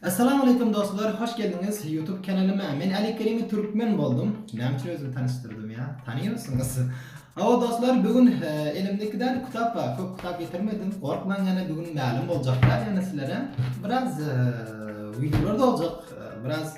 Assalamu aleykum dostlar, hoş geldiňiz YouTube kanalyma. Men Ali Kerimi Türkmen boldum. Näme üçin özümi tanyşdyrdym ya? Tanýarsyňyz. Awa dostlar, bugün e, elimde iki tane kitap bar. Köp kitap getirmedim. Gorkmaň ýene bugün mälim boljaklar ýene sizlere. Biraz e, videolar da boljak. E, biraz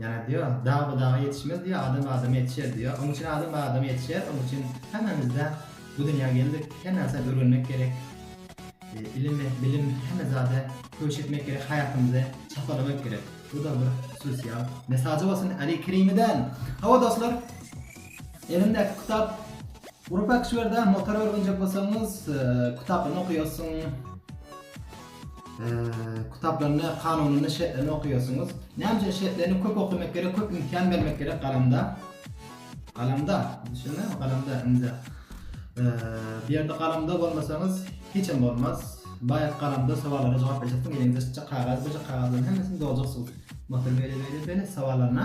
Ýa-da diýýär, Dag bu daga ýetişmez diýýär, adam adama ýetişer diýýär. Onuň üçin adam adama ýetişer, onuň üçin hemmämiz-de bu dünýä geldik, her närsä öwrenmek gerek. Ilim, bilim, hemme zada köwüş etmek gerek, haýatymyzy çapalamak gerek. Bu-da bir sosial mesajy bolsun Äli Kerimeden. Hawa dostlar, elimdäki kitap Urfak şu ýerde motor öwrenjek bolsaňyz, kitabyny okaýarsyň. Kitaplarynda kanunynda şertlerini okaýarsyňyz. Näme üçin şertlerini köp okamak gerek, köp imkan bermek gerek galamda. Galamda, düşündiňizmi? Galamda indi. Bu ýerde galamda bolmasaňyz hiç hem bolmaz. Baýat galamda sowallara jogap berjeksin, eliňizde çykjak kagaz, çykjak kagazlaryň hemmesini doljaksyň. Motor beýle beýle beýle sowallaryna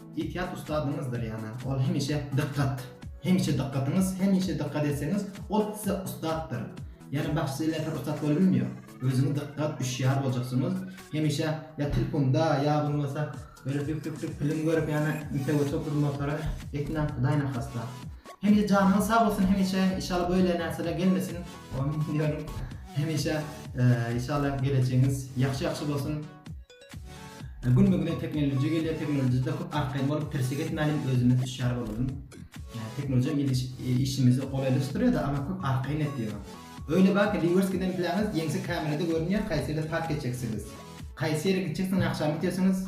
Itiýat ustadyňyzdyr ýana, ol hemişe dykgat. Hemişe dykgatyňyz, hemişe dykgat etseňiz, ol size ussatdyr. Ýöne bagşy ile her ussat bolubilmýär. Özüňiz dykgat, üşýär boljaksyňyz. Hemişe ýa tilpunda, ýa bolmasa böyle düp düp düp pilim görüp ýana intek oturyp bir motora etmäň hudaýyny arkasyna. Hemişe janyňyz sag bolsun hemişe inşallah böyle närsele gelmesin. Amin diýýärin. Hemişe inşallah gelejegiňiz ýagşy ýagşy bolsun. Gün be güne teknoloji gelýär teknolojide köp arkaýyn bolup tirsek etmäliň özümiz hüşýar bolalyň. Teknoloji gidiş işimizi golaýlaşdyrýada ama köp arkaýyn etýär. Öýle bak rewers giden plaňyz ýeňse kamerada görünýär haýsy ýere park etjeksiňiz. Haýsy ýere gitjeksiňiz agşam gitýärsiňiz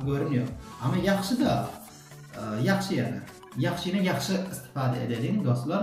görünýär. Ama ýagşyda ýagşy ýagşyny ýagşy istifada edeliň dostlar.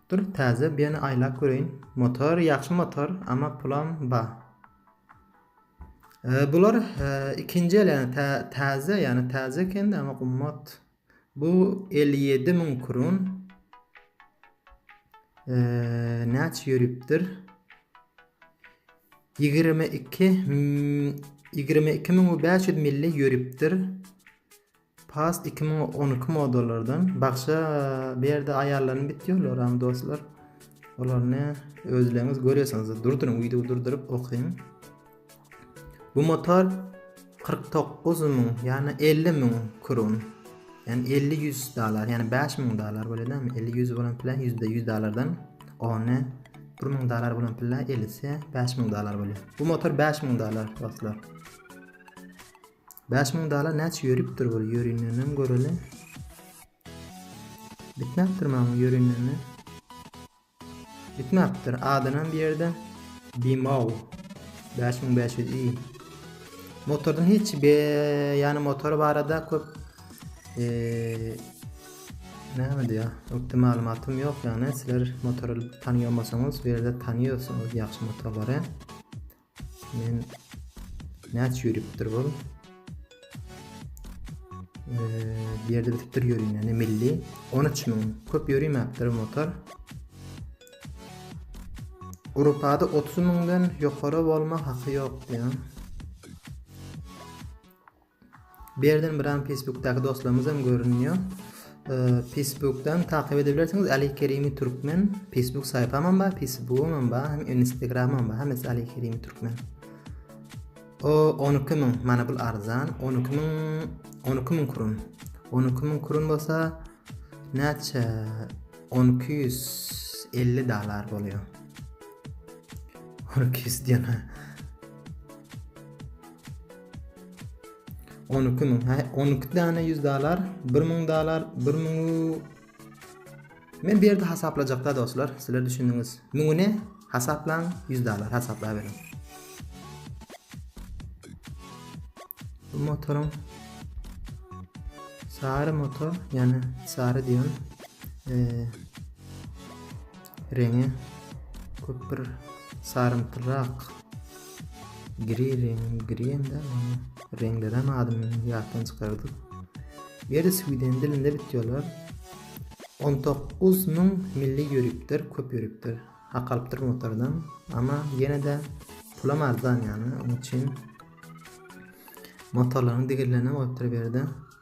Dur täze biyany aýlap göreýin. Motor ýagşy motor ama pulam ba. E, bular e, ikinji el yani tä, täze yani täze ekende ama gummat. Bu 57 ming kurun. E, näçe yürüpdir? 22 22 ming 500 milli yürüpdir. Past iki müň on iki modalardan bagşa bu ýerde aýallaryny bit ýollaramy dostlar olaryny özleňiz görýärsiňiz durduryň wideo durduryp okyň bu motor kyrk dokuz müň ýagny elli müň kron ýagny elli ýüz dollar ýagny bäş müň dollar bolýadamy elli ýüz bolan pile ýüzde ýüz dollardan ony bir müň dollar bolan pile ellisi bäş müň dollar bolýar bu motor bäş müň dollar dostlar Bäş müň dalar näçe ýörüpdir bir ýörindenem göreli. Bitmäpdir maňa ýörindende. Bitmäpdir. Adanam bir ýerde. Bimol. 5500 i. Motordan hiç be yani motor barada köp eee näme diýä? Ökde maglumatym ýok ýagny sizler motory tanýamasaňyz bu ýerde tanýarsyňyz ýagşy motorlary. Men näç ýörüpdir bu? Bir ýerde bitipdir ýörün, ýani milli 13 müň. Köp ýörimäpdir motor. Awropada 30 müňden ýokary bolma haky ýok diýen. Bu ýerden bir an Facebookdaky dostlarymyz hem görünýär. Facebookdan takyp edebilirsiniz. Ali Kerimi Türkmen Facebook saýpam hem bar, Facebook'um hem bar, hem Instagram'ym hem bar. Hemmesi Ali Kerimi Türkmen. O 12 min, mana bu arzan. 12 min, 12 min kurun. 12 min kurun bolsa näçe? 1250 dolar bolýar. 1200 diýen. On iki müň. Hä, on iki däne ýüz dalar, bir müň dalar, bir müň Men bir ýerde hasaplajakda dostlar, sizler düşündiňiz. Müňüni hasaplaň, ýüz dalar hasaplayberin. Bu motoryň sary motor, ýani sary diýen e, reňi köp bir sarymtyrak Gri reňi, gri ende reňlerem adyny ýatdan çykardyk. Ýeri sweden dilinde bitýärler. 19 müň milli ýörüpdir, köp ýörüpdir. Hak alypdyr motordan. Amma ýene-de pulam arzan ýany, onuň üçin motorlaryň digirlerine goýupdyr berde.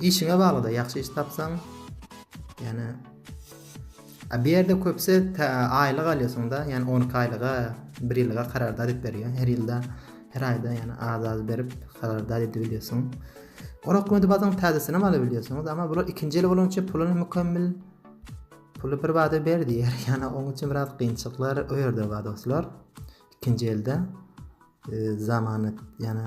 Işiňe baglyda ýagşy iş tapsaň ýane a bir ýerde köpse tä aýlyk alýasyňda ýane on iki aýlyga bir ýylyga karardat edip berýär her ýylda her aýda ýane az az berip karardat edip bilýärsiň on okmady badyň täzesini hem alyp bilýärsiňiz ama bular ikinji ýyl bolanyça puluny mükemmel puly bir bada ber diýär ýane oň üçin biraz gynçyklar o ýerde bar dostlar ikinji elde e, zamanat ýane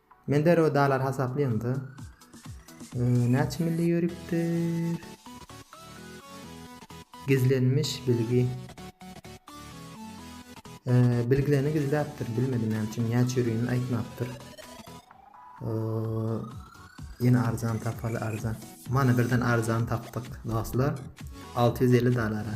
Men derrew dalar hasaplaýamda. Näçe milli ýörüpdir? Gizlenmiş bilgi. Bilgilerini gizläpdir, bilmedim näme üçin näçe ýörügini aýtmapdyr. Ýene arzan tapaly arzan. Mana birden arzan tapdyk dostlar. 650 dolara.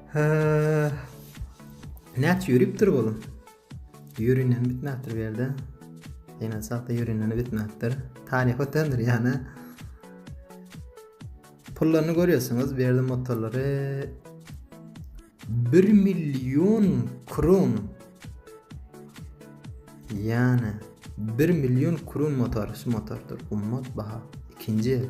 Hä. Näçe ýöripdir bu? Ýöründen bitmäpdir bu ýerde. Ýene sagta ýöründen bitmäpdir. Taryh ötendir ýana. Pullaryny görýärsiňiz, bu ýerde motorlary 1 million kron. Ýana 1 million kron motor, şu motordyr. Ummat baha. Ikinji.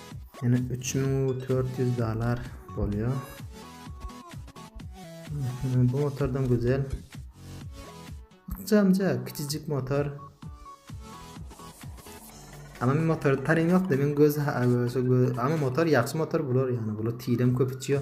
Ýene 3400 dollar bolýar. Bu motordan güzel. Jamca kiçijik motor. Ama men motor tarym yok da men göz ama motor yaxşı motor bular yani bular tirem köp içiyor.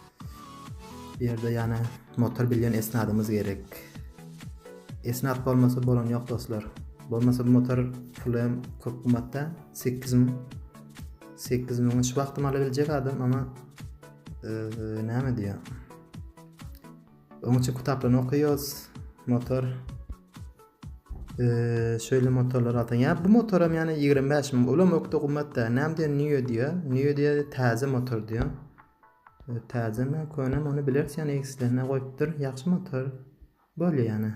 Bu ýerde ýane motor bilýän esnadymyz gerek. Esnat bolmasa bolany ýok dostlar. Bolmasa bu motor pulem köp gymmatda 8 müň 8 müň şu wagtym ala biljek adam ama näme diýýär? Onuň üçin kitaplaryny okaýarys. Motor şöyle motorlar alsan. Ya bu motoram yani 25 ming. Ulam ökde gymmatda. Näme diýen Nio diýýär. Nio diýýär täze motor diýýär. Täzemi könemi ony bileris ýöne egslenme goýupdyr ýagşy motor bolýa ýöne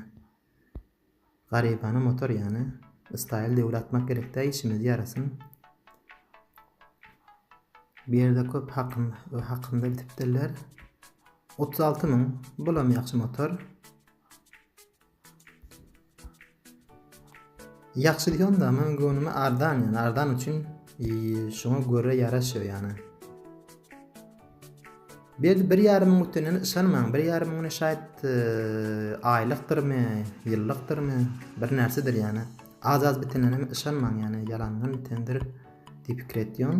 garybana motor ýöne staýl döwür atmak gerekdä işimizi ýarasyn bu ýerde köp hakym hakymda bitipdirler 36 müň bulam ýagşy motor Ýagşy diýseň da meň göwnüme ardan ýaly ardan üçin şoňa görä ýaraşýar ýany. Berdi bir ýarym müň ötenden ýaşanmaň bir ýarym müňüne şaýt aýlykdyrmy ýyllykdyrmy bir närsedir ýany az az bitenine ýaşanmaň ýany ýalandan bitendir diýip pikir etýän.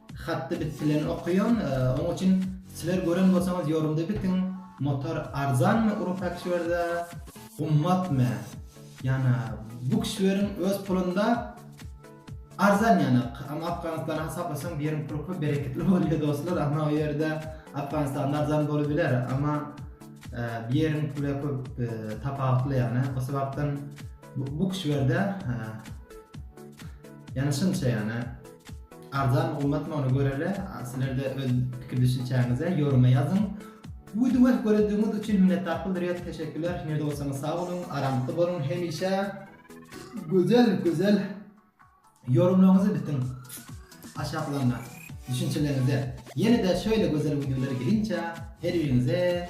Hatdy biz silen okayon oň uçin siler gören bolsaňyz yorumda bitiň motor arzanmy uru fakturda gummatmy yana bu kişileriň öz pulunda arzan yana ama afganistana hasaplasaň bir yerin pul köp bereketli bolya dostlar ama o yerde afganistanda arzan bolubiler ama bir yerin pula köp tapawutly yana o sebapdan bu kişilerde yana şunça yana Arzan gymmatmy ony göreli. Sizlerde öz pikir düşünçäňizi ýoruma ýazyň. Widewo göredigiňiz üçin minnetdarlyk bildirýäs. Teşekkürler. Nirede bolsaňyz sag boluň, aramtda boluň hemişe. Gözel, gözel ýorumlaryňyzy bitiň. Aşaklaryna düşünçeleriňize. Ýene-de şeýle gözel wideolar gelinçä her biriňize